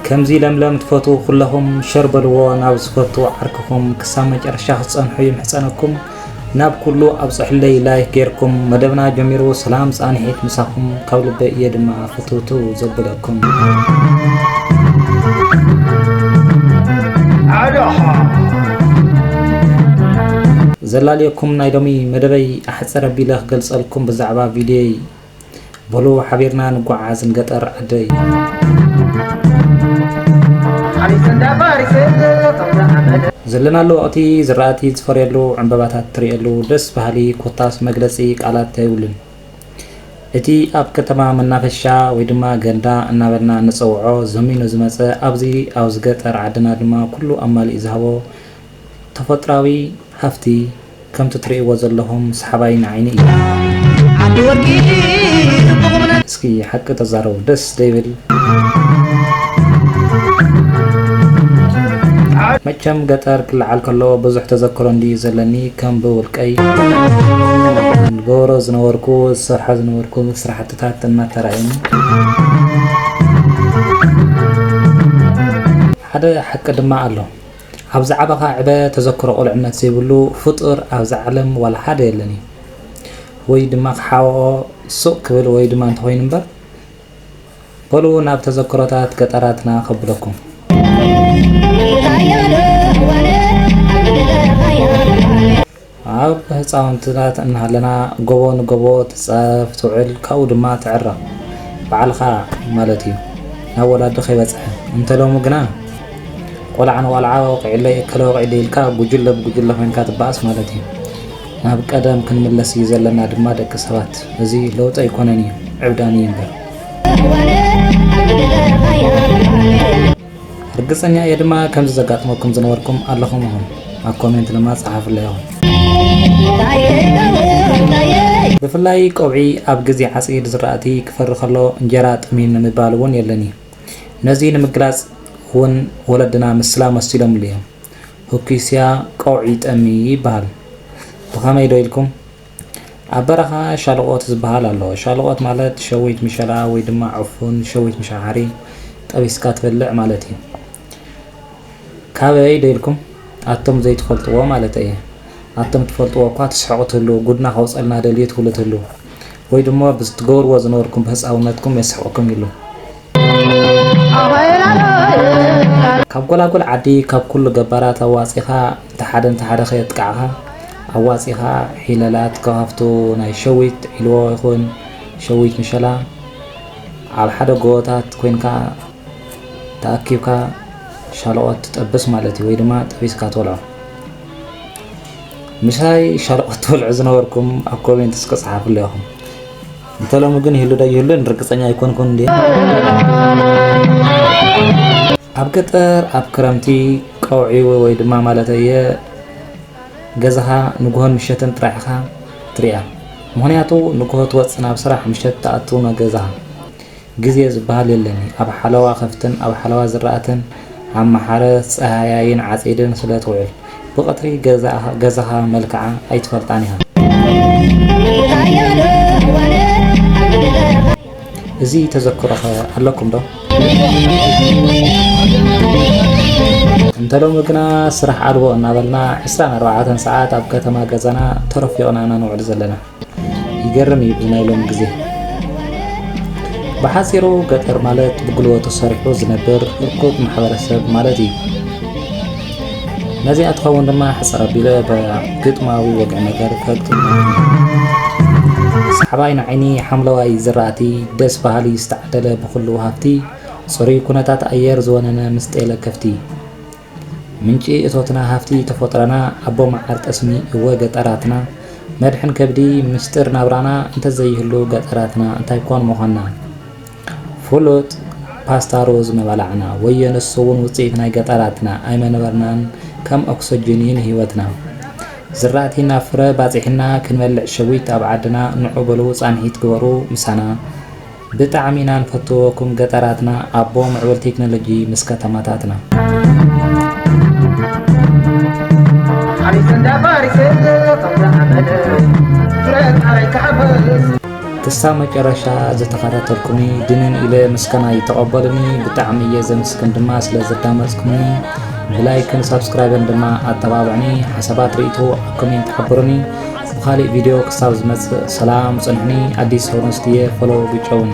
ከምዚ ለምለም ትፈትዉ ኩለኹም ሸር በልዎ ናብ ዝፈቱ ዓርክኹም ክሳብ መጨረሻ ክትፀንሑ ይምሕፀነኩም ናብ ኩሉ ኣብፅሑለይ ላይክ ጌርኩም መደብና ጀሚሩ ሰላም ፃንሒት ምሳኹም ካብ ልበ እየ ድማ ፍትውትው ዘብለ ዘላልየኩም ናይ ሎሚ መደበይ ኣሕፅር ኣቢለ ክገልፀልኩም ብዛዕባ ቪድዮይ በሉ ሓቢርና ንጓዓዝ ንገጠር ዓደይ ዘለናሉ ወቕቲ ዝራእቲ ዝፈርየሉ ዕምበባታት ትርእየሉ ደስ በሃሊ ኮታስ መግለፂ ቃላት ኣይብሉን። እቲ ኣብ ከተማ መናፈሻ ወይ ድማ ገንዳ እናበልና እንጸውዖ ዘሚኑ ዝመጸ ኣብዚ ኣብዚ ገጠር ዓድና ድማ ኩሉ ኣማሊኡ ዝሃቦ ተፎጥራዊ ሃፍቲ ከምቲ ትርእይዎ ዘለኹም ሰሓባይ ንዓይኒ እዩ። እስኪ ሓቂ ተዛረቡ ደስ ዘይብል መቸም ገጠር ክለዓል ከሎ ብዙሕ ተዘክሮ እንድዩ ዘለኒ ከም ብውልቀይ ዝገብሮ ዝነበርኩ ዝሰርሖ ዝነበርኩ ስራሕትታት እናተራእዩኒ ሓደ ሓቂ ድማ ኣሎ ኣብዚ ዓበኻ ዕበ ተዘክሮ ቁልዕነት ዘይብሉ ፍጡር ኣብዛ ዓለም ዋላ ሓደ የለን እዩ ወይ ድማ ክሓወኦ ሱቅ ክብል ወይ ድማ እንተኾይኑ እምበር በሉ ናብ ተዘክሮታት ገጠራትና ከብለኩም። ኣብ ህፃውንትታት እናሃለና ጎቦ ንጎቦ ትፃረፍ ትውዕል ካብኡ ድማ ትዕረቕ ባዕልኻ ማለት እዩ ናብ ወላዲ ከይበፅሐ እንተ ሎሚ ግና ቆልዓ ንቆልዓ ወቂዕለይ እከለ ወቂዕለይ ኢልካ ጉጅለ ብጉጅለ ኮይንካ ትበኣስ ማለት እዩ። ናብ ቀደም ክንምለስ እዩ ዘለና ድማ ደቂ ሰባት እዚ ለውጢ ኣይኮነን እዩ ዕብዳን እዩ እምበር። ርግጸኛ እየ ድማ ከምዚ ዘጋጥመኩም ዝነበርኩም ኣለኹም ኢኹም ኣብ ኮሜንት ድማ ጸሓፍለይ ኢኹም። ብፍላይ ቆብዒ ኣብ ግዜ ዓጺድ ዝራእቲ ክፈሪ ከሎ እንጀራ ጠሚኑ ምባል እውን የለን እዩ። ነዚ ንምግላጽ እውን ወለድና ምስላ መሲሎምሉ እዮም። ሁኪስያ ቀውዒ ጠሚ ይበሃል። ብኸመይ ዶ ኢልኩም? ኣብ በረኻ ሻለቖት ዝበሃል ኣሎ። ሻለቖት ማለት ሸዊት ምሸላ ወይ ድማ ዕፉን፣ ሸዊት ምሸዓሪ፣ ጠቢስካ ትበልዕ ማለት እዩ። ካበይ ዶ ኢልኩም? ኣቱም ዘይትፈልጥዎ ማለተይ እየ። ኣቱም ትፈልጥዎ እኳ ትስሕቑ ትህልዉ፣ ጉድና ከውጸልና ደልዩ ትብሉ ትህልዉ። ወይ ድማ ብዝትገብርዎ ዝነበርኩም ብህጻውነትኩም የስሕቐኩም ይህሉ። ካብ ጎላጉል ዓዲ ካብ ኩሉ ገባራት ኣዋጺኻ እንተ ሓደ እንተ ሓደ ከየጥቃዕኻ ኣዋጺኻ ሒለላት ከፋፍቱ ናይ ሸዊት ዒልዎ ይኹን ሸዊት ምሸላ ኣብ ሓደ ጎቦታት ኮይንካ ተኣኪብካ ሻለቆት ትጠብስ ማለት እዩ ወይ ድማ ጠቢስካ ትበልዖ ምሳይ ሻለቆት ትበልዑ ዝነበርኩም ኣብ ኮሜንት እስከ ጸሓፉለይ ኢኹም እንተ ሎሚ ግን ይህሉ ዶ ኣይህሉን ርግጸኛ ኣይኮንኩን እንድየ። ኣብ ገጠር ኣብ ክረምቲ ቀውዒ ወይ ድማ ማለተይ እየ ገዛኻ ንግሆን ምሸትን ጥራሕ ኢኻ ትሪኣ ምኽንያቱ ንግሆ ትወጽእ ናብ ስራሕ ምሸት ትኣቱ ገዛኻ። ግዜ ዝበሃል የለን እዩ። ኣብ ሓለዋ ከፍትን ኣብ ሓለዋ ዝራእትን ኣማሓረ ጸሃያይን ዓጺድን ስለ ትውዕል፣ ብቐትሪ ገዛኻ መልክዓ ኣይትፈልጣን ኢኻ። እዚ ተዘክሮኸ ኣለኩም ዶ? እንተ ሎሚ ግና ስራሕ ኣልቦ እናበልና ዕስራን ኣርባዓተን ሰዓት ኣብ ከተማ ገዛና ተሮፊቕና ኢና ንውዕል ዘለና። ይገርም እዩ ናይ ሎሚ ግዜ ብሓፂሩ ገጠር ማለት ብጉልበቱ ሰሪሑ ዝነብር እኩብ ማሕበረሰብ ማለት እዩ ነዚኣ ትኸውን ድማ ሕፅር ኣቢለ ብግጥማዊ ወግዒ ነገር ከግጥም ሰሓባይ ንዓይኒ ሓምለዋይ ዝራእቲ ደስ በሃሊ ዝተዓደለ ብኩሉ ሃፍቲ ፅሩይ ኩነታት ኣየር ዝወነነ ምስ ጤለ ከፍቲ ምንጪ እቶትና ሃፍቲ ተፎጥረና ኣቦ መዓር ጠስሚ እወ ገጠራትና መድሕን ከብዲ ምስጢር ናብራና እንተዘይህሉ ገጠራትና እንታይ ኮን ምኾና ፍሉጥ ፓስታ ሩዝ ምበላዕና ወዮ ንሱ ውን ውጽኢት ናይ ገጠራትና ኣይመነበርናን ከም ኦክሶጂን እዩ ንህይወትና ዝራእቲ ናብ ፍረ ባጺሕና ክንበልዕ ሸዊት ኣብ ዓድና ንዑ በሉ ጻንሒት ግበሩ ምሳና ብጣዕሚ ኢና ንፈትዎኩም ገጠራትና ኣቦ ምዕቡል ቴክኖሎጂ ምስ ከተማታትና። ክሳብ መጨረሻ ዝተኸታተልኩኒ ድንን ኢለ ምስጋና ይተቐበሉኒ ብጣዕሚ እየ ዘምስግን ድማ ስለ ዘዳመፅኩምኒ ብላይክን ሳብስክራይብን ድማ ኣተባብዕኒ ሓሳባት ርእይቶ ኣብ ኮሜንት ሓብሩኒ ብካሊእ ቪድዮ ክሳብ ዝመፅእ ሰላም ፅንሑኒ ኣዲስ ሆሮንስት እየ ፎሎው ግጨውኒ።